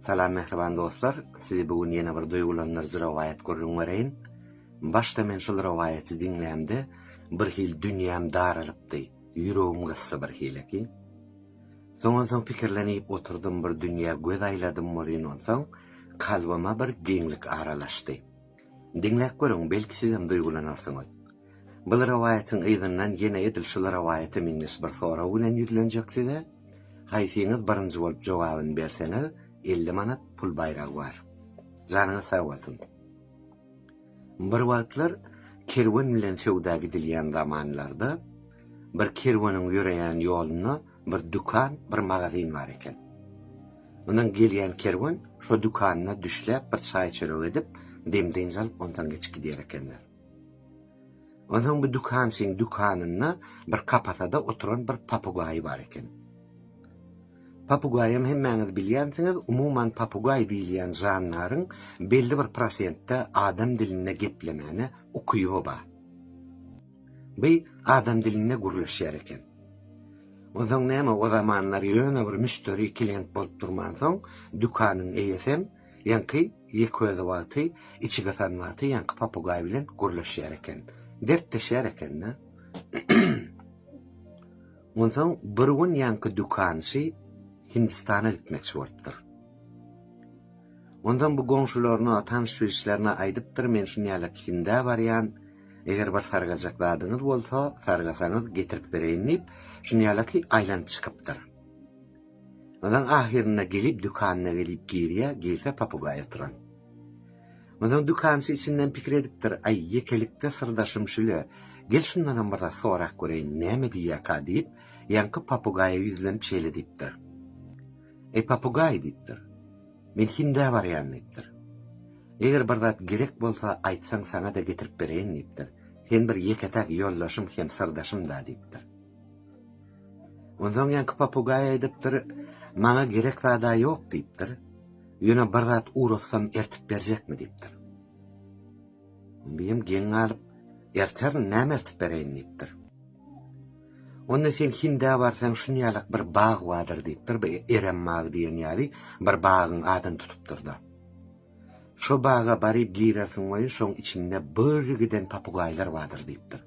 Salam mähriban dostlar, sizi bu gün ýene bir duýgulandyryjy rowaýat gürrüň bereýin. Başda men şul rowaýaty diňlämde bir hil dünýäm daralypdy, ýüregim gysdy bir hileki. Soň onsoň pikirlenip oturdym bir dünýä göz aýladym bolýyn onsoň kalbyma bir giňlik aralaşdy. Diňläp görüň, belki sizem duýgulanarsyňyz. Bul rowaýatyň yzyndan ýene edil şul rowaýata meňzeş bir sorag bilen ýüzlenjek size. Haýsyňyz birinji bolup jogabyny berseňiz, elli manat pul baýragy bar. Janyňyz sag bolsun. Bir wagtlar kerwen bilen söwda gidilýän zamanlarda, bir kerweniň ýöreýän ýoluna bir dükan, bir magazin bar eken. Mundan gelýän kerwen şo dükanyna düşläp bir çaý-çörek edip, dem-dynç alyp ondan geçip gidýär ekenler. Ondan bu dükançyň dükanynda bir kapasada oturan bir papugaýy bar eken. Papugaýam hemmäňiz bilýänsiňiz, umuman papugaý diýilýän jandaryň belli bir prosentde adam dilinde geplemäne ukyby bar. Bi adam dilinde gürleşýär eken. Onsoň näme o zamanlar ýöne bir müşderi klient bolup durmansoň, dükanyň eýesem ýaňky ýeközi wagty içige san wagty ýaňky papugaý bilen gürleşýär eken. Dertleşýär eken-de. Onsoň bir gün ýaňky dükançy Hindistana gitmekçi bolupdyr. Ondan bu goňşularyna, tanyş-bilişlerine aýdypdyr, men şunýalak Hindä barýan, Eger bir sargajak zadyňyz bolsa, sargasaňyz getirip bereýin diýip, şunýalaki aýlanyp çykypdyr. Ondan ahyrynda gelip dükanyna gelip girýä, girse papugaý oturan. Ondan dükançy içinden pikir edipdir, aý ýekelikde syrdaşym şüle, gel şundanam bir zat sorap göreýin, näme diýýäka diýip, ýaňky papugaýa ýüzlenip şeýle diýipdir. Eý papugaý diýipdir. Men Hindä barýan diýipdir. Eger bir zat gerek bolsa aýtsaň saňa-da getirip bereýin diýipdir. Sen bir ýeke-täk ýoldaşym hem syrdaşym-da diýipdir. Onsoň ýaňky papugaý aýdypdyr, Maňa gerek zada ýok diýipdir. Ýöne bir zat uratsam ertip berjekmi diýipdir. Bim geň galyp, Erterin, näme ertip bereýin diýipdir. Onda sen Hindä barsaň şunýalak bir bag bardyr diýipdir, bir Erem bagy diýen ýaly bir bagyň adyny tutupdyr-da. Şo baga baryp girersiň welin şoň içinde bir giden papugaýlar bardyr diýipdir.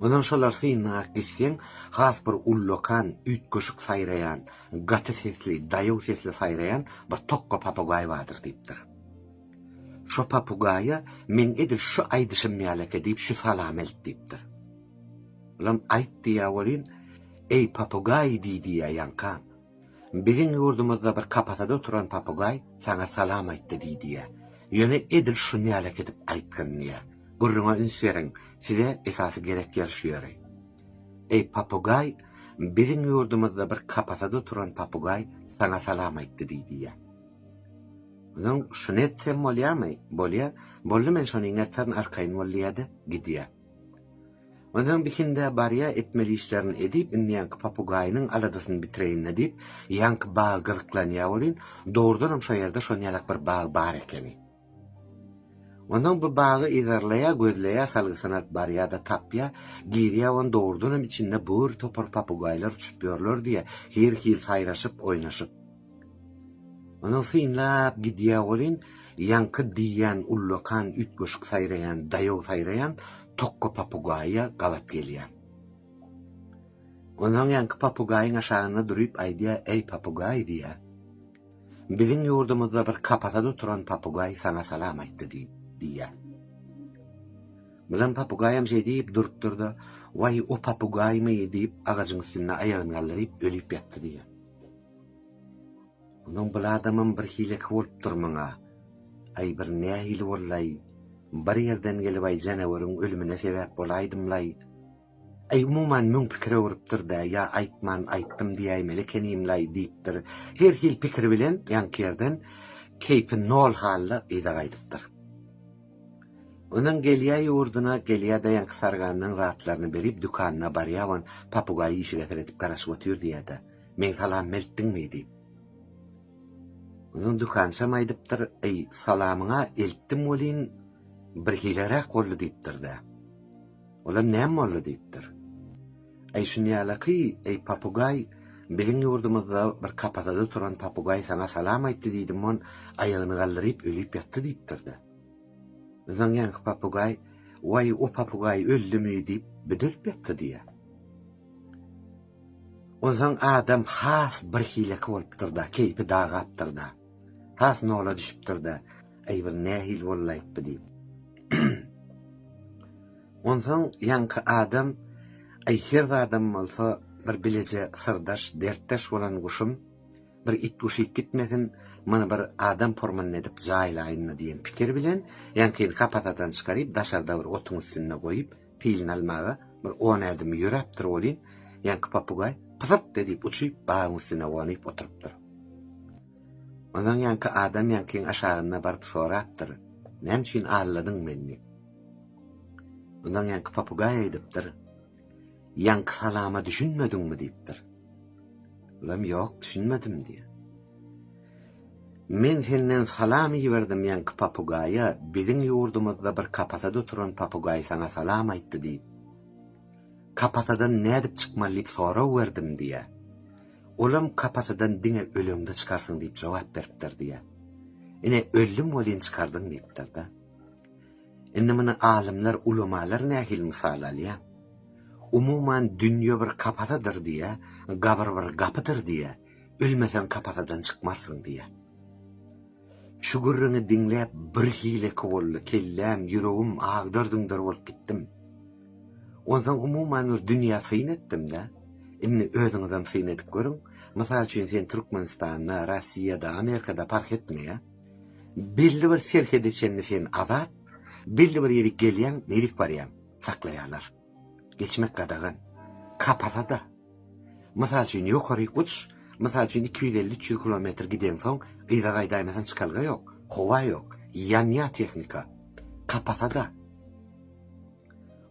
Ondan şolar synlap gitseň, has bir ullakan, üýtgeşik saýraýan, gaty sesli, daýaw sesli saýraýan bir tokga papugaý bardyr diýipdir. Şo papugaýa meň edil şu aýdyşym ýalaka diýip şu salamy aýt diýipdir. Olam aýt diýýä welin, Eý papugaý diý diýýä ýaňka. Biziň ýurdumyzda bir kapasada oturan papugaý saňa salam aýtdy diý diýýä. Ýöne edil şuny ýalaka edip aýtgyn diýýä. Gürrüňe üns beriň, size esasy gerek ýer şu ýeri. Eý papugaý, biziň ýurdumyzda bir kapasada oturan papugaý saňa salam aýtdy diý diýýä. Öňem şuny etsem bolýamy? Bolýa. Boldy men şony iňerterin arkaýyn bol diýýä-de, gidýä. Öňem bir hindä barýa etmeli işlerini edip, indi ýaňky papugaýynyň aladasyny bitireýin-le diýip, ýaňky bagy gyzyklanýa welin, dogrudanam şo ýerde şon ýalak bir bag bar ekeni. Öňem bu bagy yzarlaýa, gözleýä, salgysyny alyp barýa-da tapýa, girýä ony dogrudanam içinde bir topar papugaýlar uçup ýörler diýýä, her hil saýraşyp, oýnaşyp. Onuň synlap gidýä welin, ýaňky diýýän ullakan üýtgeşik saýraýan, daýaw saýraýan tokga papugaýa gabat gelýä. Onsoň ýaňky papugaýyň aşagynda durup aýdýa, Eý papugaý diýýä. Biziň ýurdumyzda bir kapasada oturan papugaý saňa salam aýtdy diýip, diýýä. Bilen papugaýam şeý diýip durupdyr-da, Waý o papugaýmy diýip agajyň üstünde aýagyny galdyryp ölüp ýatdy diýýä. Munuň bir adamam bir hileki bolupdyr muňa. Aý bir nähili bollaý, bir ýerden gelip aý janaweriň ölümine sebäp bolaýdymlaý. Aý umuman müň pikir öwrüpdir-dä ýa aýtman aýtdym diýäýmeli ekenimlaý diýipdir. Her hil pikir bilen ýaňky ýerden keýpi nol halda yza gaýdypdyr. Ondan gelýä ýurduna, gelýä-de ýaňky sarganynyň zatlaryny berip dükanyna barýa on papugaýy işige seredip garaşyp otyr diýä-de. Men salam eltdiňmi diýip. Onuň dükançam aýdypdyr, eý, salamyňa eltdim welin, birhileräk boldy diýipdir-de. Olam näme boldy diýipdir. Eý, şunýalaky, eý, papugaý, biziň ýurdumyzda bir kapasada oturan papugaý saňa salam aýtdy diýdim, on aýagyny galdyryp ölüp ýatdy diýipdir-de. Onsoň ýaňky papugaý, waý, o papugaý öldümi diýip, büdülip ýatdy diýýär. Onsoň adam has birhileki bolupdyr-da, keýpi dagapdyr-da. Has nola düşüpdir-de, Aý, bir nähili bolaýyp bu diýip. Onsoň ýaňky adam, Aý, her zadam bolsa bir bileje syrdaş, dertdeş bolan guşum, bir it guşyp gitmesin, muny bir adam formynda edip jaýlaýyn-da diýen pikir bilen, ýaňkyny kapasadan çykaryp, daşarda bir otuň üstünde goýup, Pilini almaga bir on ädim ýöräpdir welin, ýaňky papugaý pysyrt edip uçup, bagyň üstüne gonup oturypdyr. Onsoň ýaňky adam ýaňkyň aşagynda baryp sorapdyr, Näme üçin alladyň meni? Onsoň ýaňky papugaý aýdypdyr, Ýaňky salama düşünmediňmi? diýipdir. Olam, Ýok, düşünmedim diýýär. Men senden salam iberdim ýaňky papugaýa, biziň ýurdumyzda bir kapasada oturan papugaý saňa salam aýtdy diýip. Kapasadan nädip çykmaly diýip sorag berdim diýýär. Olam kapasadan diňe öleňde çykarsyň diýip jogap beripdir diýýär. Ine öldüm welin çykardyň diýipdir-de. Indi muny alymlar, ulamalar nähili mysal alýar? Umuman dünýe bir kapasadyr diýýär, gabyr bir gapydyr diýýär. ölmeseň kapasadan çykmarsyň diýýär. Şu gürrüňi diňläp bir hileki boldy, kelläm, ýüregim agdar-düňder bolup gitdim. Onsoň umuman bir dünýä syn etdim-de, indi özüňizem syn edip görüň, mysal üçin sen Türkmenistanda, Rossiýada, Amerikada parh etmeýär. Belli bir serhede çenli sen azat, belli bir ýerik gelýäň, nerik barýaň, saklaýarlar. Geçmek gadagan. Kapasa-da. Mysal üçin, ýokaryk uç, mysal üçin, iki ýüz elli-üç ýüz kilometr gideňsoň, yza gaýdaýmasaň çykalga ýok, howa ýok, ýanýar tehnika. Kapasa-da.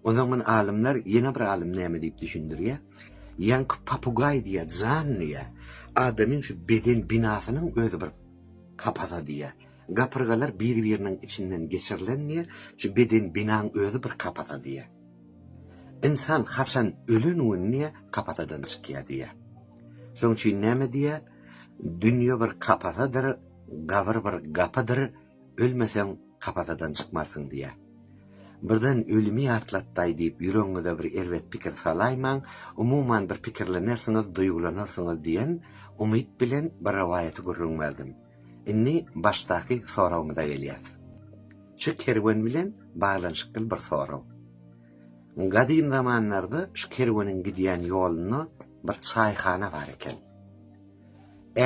Onsoň muny alymlar, ýene bir alym näme diýip düşündirýär? Ýaňky papugaý diýýär, jan diýýär. Adamyň şu beden binasynyň özi bir kapasa diýýär. Gapyrgalar bir-biriniň içinden geçirilen diýýär, şu beden binaň özi bir kapasa diýýär. Ynsan haçan ölen gün diýýär, kapasadan çykýar diýýär. Şonuň üçin näme diýýär? Dünýe bir kapasadyr, gabyr bir gapydyr, ölmeseň kapasadan çykmarsyň diýýär. Birden ölümi ýatlatdaý diýip ýüregiňize bir erbet pikir salaýmaň, umuman bir pikirlenersiňiz, duýgulanarsyňyz diýen umyt bilen bir rowaýaty gürrüň berdim. Indi başdaky soragymyza gelýäs. Şu kerwen bilen baglanyşykly bir sorag. Gadym zamanlarda şu kerweniň gidýän ýolunda bir çaýhana bar eken.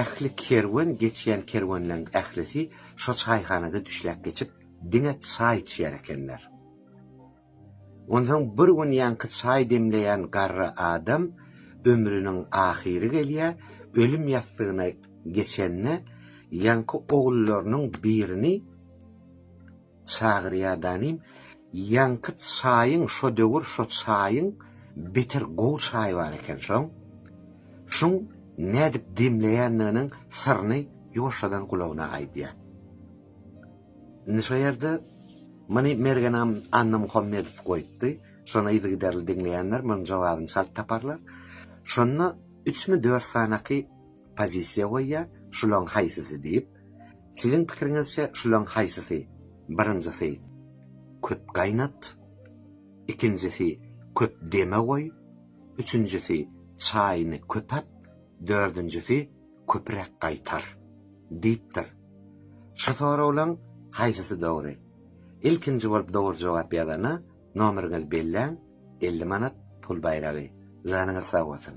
Ähli kerwen, geçýän kerwenleriň ählisi şo çaýhanada düşläp geçip, diňe çaý içýär ekenler. Onsoň bir gün ýaňky çaý demleýän garry adam ömrüniň ahyry gelýär, ölüm ýassygyna geçende ýaňky ogullarynyň birini çagyrýar danym, ýaňky çaýyň şo döwür şo çaýyň beter gowy çaý bar eken şoň, şuň nädip demleýändiginiň syryny ýoşadan gulagyna aýdýar. Indi şo ýerde muny Mergenam Annamuhammedow goýupdy. Şony yzygiderli diňleýänler munuň jogabyny çalt taparlar. Şonda üçmi, dört sanaky pozisiýa goýýar, şularyň haýsysy diýip. Siziň pikiriňizçe şularyň haýsysy? Birinjisi, köp gaýnat. Ikinjisi, köp deme goý. Üçünjisi, çaýyny köp at. Dördünjisi, köpüräk gaýtar? diýipdir. Şu soraglaň haýsysy dogry? Ilkinji bolup dogry jogap ýazana nomeriňiz belläň elli manat pul baýragy. Janyňyz sag bolsun.